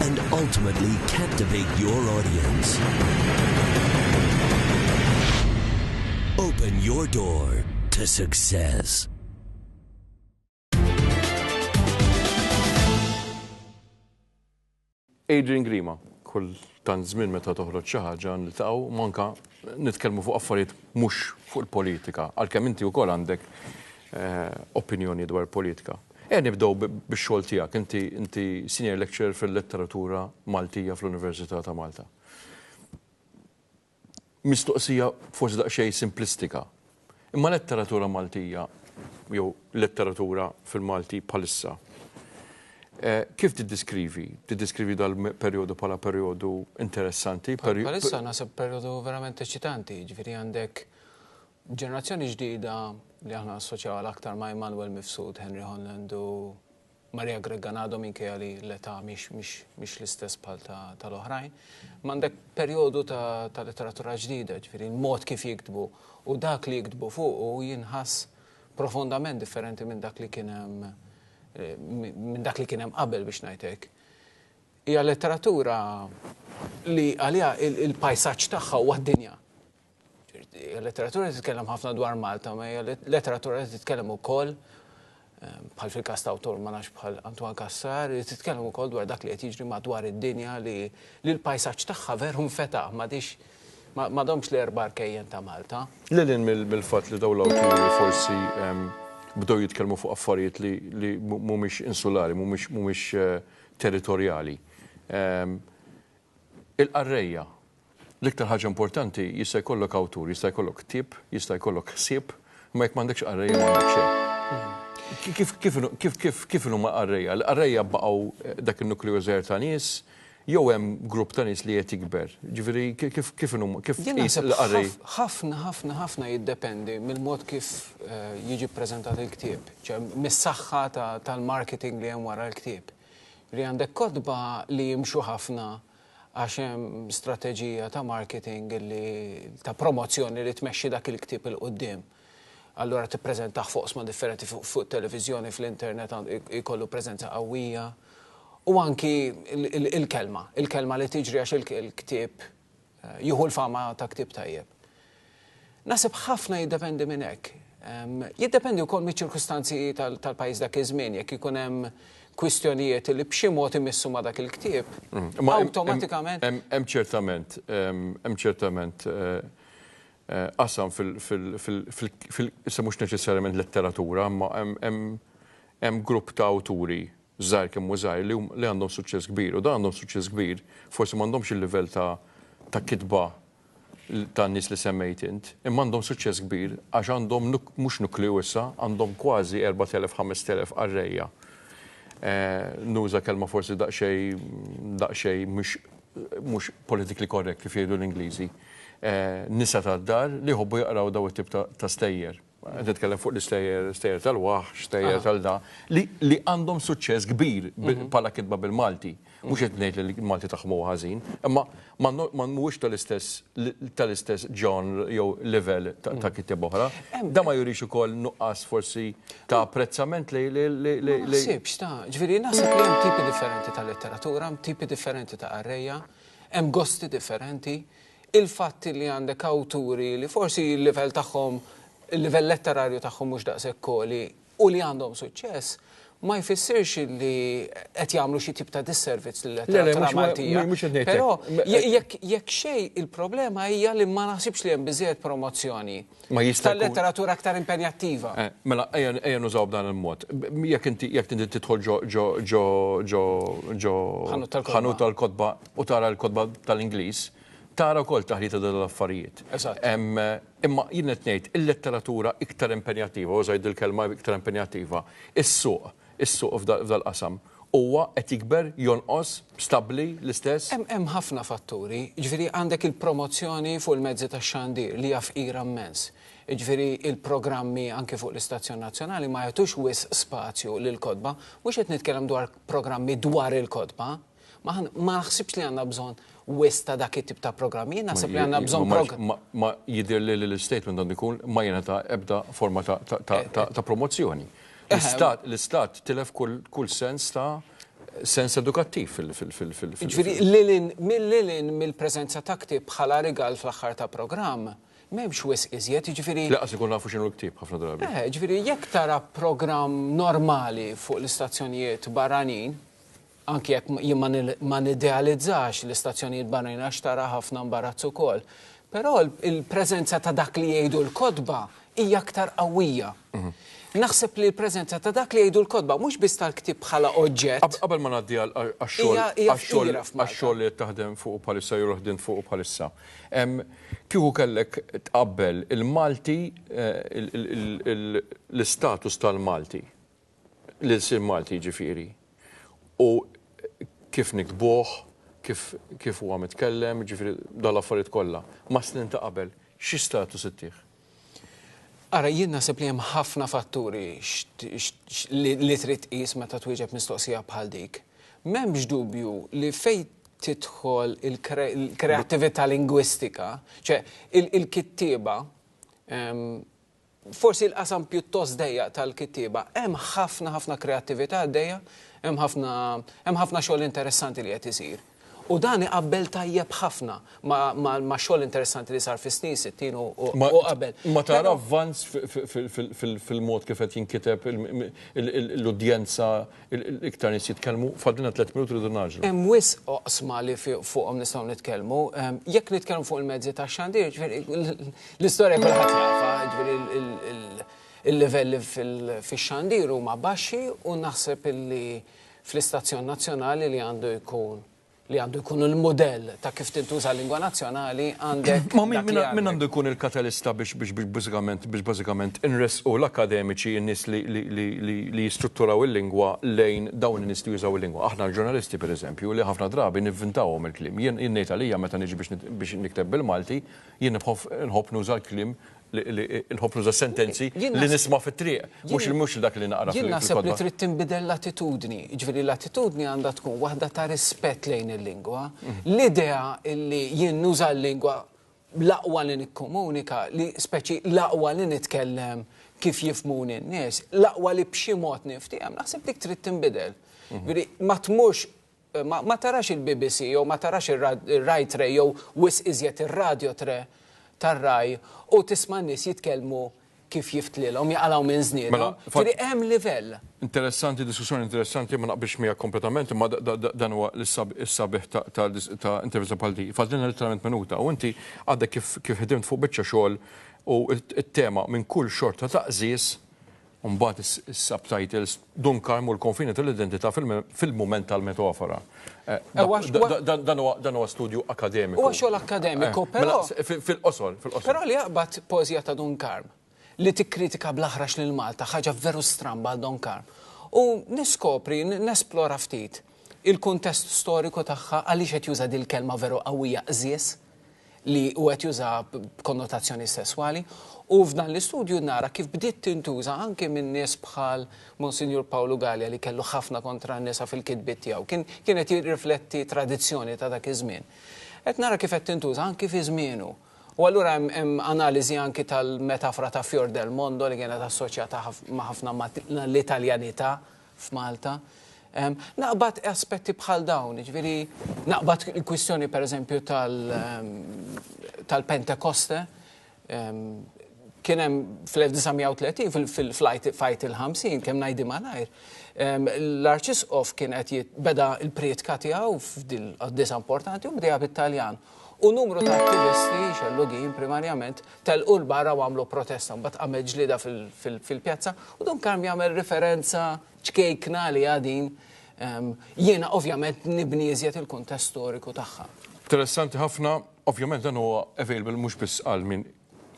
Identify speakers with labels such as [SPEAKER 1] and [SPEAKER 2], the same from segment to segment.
[SPEAKER 1] and ultimately captivate your audience. Open your door to success. Adrian Grima, kull tant żmien meta toħroġ xi ħaġa niltaqgħu manka nitkellmu fuq affarijiet mhux fuq il-politika, għalkemm inti wkoll għandek eh, opinjoni dwar politika. Ejja nibdew bix-xogħol tiegħek. Inti inti Senior Lecturer fil-Letteratura Maltija fl-Università ta' Malta. Mistoqsija forsi daqsxejn simplistika, imma letteratura Maltija jew letteratura fil-Malti bħalissa, kif tiddiskrivi? Tiddiskrivi dal-perjodu bħala perjodu interessanti? Bħalissa naħseb perjodu verament eċċitanti, jiġifieri għandek Ġenerazzjoni ġdida li aħna nassoċjawha l-aktar ma' Immanuel Mifsud, Henry Holland u Maria Gregganado minkejja li l-età mhix l-istess bħal tal-oħrajn. Imma għandek perjodu ta' letteratura ġdida, ġifieri l-mod kif jiktbu u dak li jiktbu fuqu jinħass profondament differenti minn dak li kien hemm minn dak li kien hemm qabel biex ngħid hekk. Hija letteratura li għaliha il-pajsaġġ tagħha huwa d-dinja. Il-letteratura li titkellem ħafna dwar Malta, ma hija letteratura li titkellem ukoll ehm, bħal fil-kas ta' awtur ma nafx bħal Antoine Cassar, li titkellem ukoll dwar dak li qed jiġri madwar id-dinja li l-pajsaġġ tagħha veru nfeta' m'għadix ma domx l-erba' arkejjen ta' Malta. Lilin mill-fatt li dawn l-awturi forsi ehm, bdew jitkellmu fuq affarijiet li mhumiex insulari, mhumiex eh, territorjali. Ehm, Il-qarrejja, l-iktar ħaġa importanti, jista' jkollok awtur, jista' jkollok ktieb, jista' jkollok ħsieb, imma jekk m'għandekx qarrejja m'għandek xejn. Kif inhuma l-qarrejja? L-qarrejja baqgħu dak in-nukleu żgħir ta' nies jew hemm grupp ta' nies li qed jikber? Jiġifieri kif inhuma, kif tqis il-qarrej? Ħafna, ħafna, ħafna jiddependi mill-mod kif jiġi ppreżentat il-ktieb, mis-saħħa tal-marketing li hemm wara l-ktieb. li għandek kotba li jimxu ħafna għax hemm strateġija ta' marketing li ta' promozzjoni li tmexxi dak il-ktieb 'il quddiem. Allura tippreżentah f'oqsma differenti fuq it-televiżjoni, fl-internet jkollu preżenza qawwija. U anki il-kelma, il-kelma li tiġri għax il-ktieb Jieħu l-fama ta' ktieb tajjeb. Naħseb ħafna jiddependi minn hekk. Jiddependi wkoll miċ-ċirkustanzi tal-pajjiż dak iż-żmien, jekk ikun hemm kwistjonijiet li b'xi mod imissu ma' dak il-ktieb, awtomatikament. Hemm ċertament, hemm ċertament qasam fil-, issa mhux neċessarjament letteratura, imma hemm grupp ta' awturi żgħir kemm hu żgħir, li għandhom suċċess kbir. U dawn għandhom suċċess kbir, forsi m'għandhomx il-livell ta' ta' kitba tan-nies li semmejt int, imma għandhom suċċess kbir għax għandhom mhux nukleu issa, għandhom kważi 4,000, 5,000 qarrejja. Nuża kelma forsi daqsxejn daqsxejn mhux mhux politically correct kif jgħidu l-Ingliżi. Nisa tad-dar li jħobbu jaqraw dawn it-tip ta' stejjer. Qed nitkellem fuq l-istejjer, stejjer tal-waħx, stejjer tal-da, li għandhom suċċess kbir bħala kitba bil-Malti. Mhux qed ngħid li l-Malti tagħhom huwa ħażin, imma ma mhuwiex tal-istess tal-istess genre jew livell ta' kittieb oħra. Dan ma jurix ukoll nuqqas forsi ta' apprezzament li. Ma naħsibx ta', ġifieri naħseb li hemm tipi differenti ta' letteratura, hemm tipi differenti ta' qarrejja, hemm gosti differenti. Il-fatt li għandek awturi li forsi l-livell tagħhom, il-livell letterarju tagħhom mhux daqshekk għoli u li għandhom suċċess, ma jfissirx li qed jagħmlu xi tip ta' disservizz lil-letteratura Maltija. Però jekk xejn il-problema hija li ma naħsibx li hemm biżżejjed promozzjoni. Ma jista' jkun. Tal-letteratura aktar impenjattiva. Eh, mela, ejja nużaw b'dan il-mod. Jekk inti jekk inti tidħol ġo ġo ġo ġo ġo ħanut tal-kotba u tara l-kotba tal-Ingliż, tara wkoll taħlita dal-affarijiet. Eżatt. Imma jien qed ngħid il-letteratura iktar impenjattiva, użajt dil-kelma iktar impenjattiva, is-suq, is-suq f'dal-qasam. Huwa qed jikber, jonqos, stabbli, l-istess? Hemm ħafna fatturi. Jiġifieri għandek il-promozzjoni fuq il-mezzi tax-xandir li hija fqira mmens. Jiġifieri l-programmi anki fuq l-istazzjon nazzjonali ma jagħtux wisq spazju lill-kotba. Mhux qed nitkellem dwar programmi dwar il-kotba. Ma ma naħsibx li għandna bżonn wisq ta' dak it-tip ta' programmi. Jien naħseb li għandna bżonn prog. Ma ma jidhirli li l-istatement għandu jkun ma jingħata ebda forma ta' ta' ta' ta' promozzjoni. L-Istat tilef kull sens ta' sens edukattiv fil-. Jiġifieri lilin, lilin mill-preżenza ta' ktieb bħala rigal fl-aħħar ta' programm, m'hemmx wisq iżjed, jiġifieri. Lanqas ikunu nafu x'inhu l-ktieb ħafna drabi. Eħe, jiġifieri jekk tara programm normali fuq l-istazzjonijiet barranin, Anki jekk jien ma nidealizzax l-istazzjonijiet barranin għax tara ħafna mbarazz ukoll. Però l-preżenza ta' dak li jgħidu l-kotba hija aktar qawwija. Naħseb li l-preżenza ta' dak li jgħidu l-kotba, mhux biss tal-ktieb bħala oġġett. Qabel ma ngħaddi għax-xogħol li qed taħdem fuqu bħalissa jew li ħdimt fuqu bħalissa, kieku kellek tqabbel il-Malti, l-istatus tal-Malti, l-ilsien Malti jiġifieri, u kif niktbuh, kif kif huwa mitkellem, jiġifieri dawn l-affarijiet kollha, mas-snin ta' qabel, xi status ittih? Ara, jien naħseb li hemm ħafna fatturi li trid tqis meta twieġeb mistoqsija bħal dik. M'hemmx dubju li fejn tidħol il-kreattività lingwistika, ċe il-kittieba, forsi l-qasam pjuttost dejjaq tal-kittieba, hemm ħafna ħafna kreattività għaddejja, hemm ħafna hemm ħafna xogħol interessanti li qed isir. U dan iqabbel tajjeb ħafna max-xogħol interessanti li sar fis-snin sittin u qabel. Ma tara avvanz fil-mod kif qed jinkiteb l-udjenza Iktar nies jitkellmu, fadlilna tliet minuti rridu nagħġlu. Hemm wisq oqsma li fuqhom nistgħu nitkellmu. Jekk nitkellmu fuq il-mezzi tax-xandir, jiġifieri l-istorja kulħadd jafha, jiġifieri l-livelli fix-xandir huma baxxi u naħseb illi fl-istazzjon nazzjonali li għandu jkun li għandu jkun il-mudell ta' kif tintuża l-lingwa nazzjonali, għandek. Ma min għandu jkun il-katalista biex bażikament inressqu l-akkademiċi, in-nies li jistrutturaw il-lingwa lejn dawn in-nies li jużaw il-lingwa? Aħna l-ġurnalisti, pereżempju, li ħafna drabi nivvintawhom il-kliem. Jien ngħid għalija meta niġi biex nikteb bil-Malti, jien nħobb nuża l-kliem il-ħobżu tas-sentenzi li nisma' fit-triq, mhux dak li naqra fil-kotba. Jien naħseb li trid tinbidel l-attitudni. Jiġifieri l-attitudni għandha tkun waħda ta' rispett lejn il-lingwa. L-idea li jien nuża l-lingwa l-aqwa li nikkomunika, li speċi l-aqwa li nitkellem kif jifhmuni n-nies, l-aqwa li b'xi mod niftiehem, naħseb dik trid tinbidel. Jiġifieri ma tmurx Ma, ma tarax il-BBC jew ma tarax ir-Rai Tre jew wisq iżjed ir-Radio Tre tar-Rai u tisma' n-nies jitkellmu kif jiftlilhom, jaqalgħu minn żniedhom. Ġifieri hemm livell. Interessanti, diskussjoni interessanti, ma naqbilx miegħek kompletament, imma dan huwa s-sabiħ ta' intervista bħal din. Fadlilna litteralment minuta u inti għadek kif ħdimt fuq biċċa xogħol u t-tema minn kull xorta ta' qżież u mbagħad is-subtitles, Dun Karm u l-Konfini tal-Identità fil-Mument tal-Metafora. Dan huwa studju akkademiku. Huwa xogħol akkademiku, però. Mela, fil-qosor, fil-qosor. Però li jaqbad poeżija ta' Dun Karm, li tikkritika bl-aħrax lil Malta, ħaġa veru stramba għal Dun Karm, u niskopri, nesplora ftit. il-kuntest storiku tagħha, għaliex qed juża dil-kelma veru qawwija qżież li hu qed jużaha b'konnotazzjoni sesswali, u f'dan l-istudju nara kif bdiet tintuża anke minn nies bħal Monsinjur Pawlu Galea li kellu ħafna kontra n-nisa fil-kitbiet tiegħu. Kien kien qed jirrifletti tradizzjoni ta' dak iż-żmien. Qed nara kif qed tintuża anke fi żmienu. U allura hemm hemm analiżi anke tal-metafora ta' Fior del Mondo li kienet assoċjata ma' ħafna ma' l-Italjanità. f'Malta. Naqbad aspetti bħal dawn, jiġifieri naqbad il-kwistjoni pereżempju tal-Pentekoste. Kien hemm fl-1930 fil-fajt il-50 kemm ngħidi malajr. L-Arċisqof kien qed beda l-prietka tiegħu f'dil qaddisa importanti u bdejha bit-Taljan. u numru ta' attivisti xellugin primarjament telqu 'l barra u għamlu protesta. Mbagħad qamet ġlieda fil-pjazza u Don Karm jagħmel riferenza ċkejkna għaliha din jiena ovvjament nibni iżjed il-kuntest storiku tagħha. Interessanti ħafna. Ovvjament dan huwa available mhux biss għal min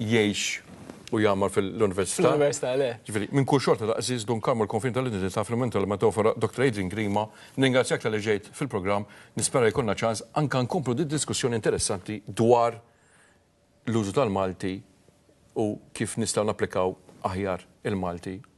[SPEAKER 1] jgħix u jgħammar fil-Università. Fl-Università, le. Ġifieri, minn kull xorta ta' Għażiż Dun Karmu l-konfini tal-identità fl-mentol metafora Doctor Adrian Grima, nringrazzjak talli ġejt fil-programm, nispera jkollna ċans anke nkomplu did-diskussjoni interessanti dwar l-użu tal-Malti u kif nistgħu napplikaw aħjar il-Malti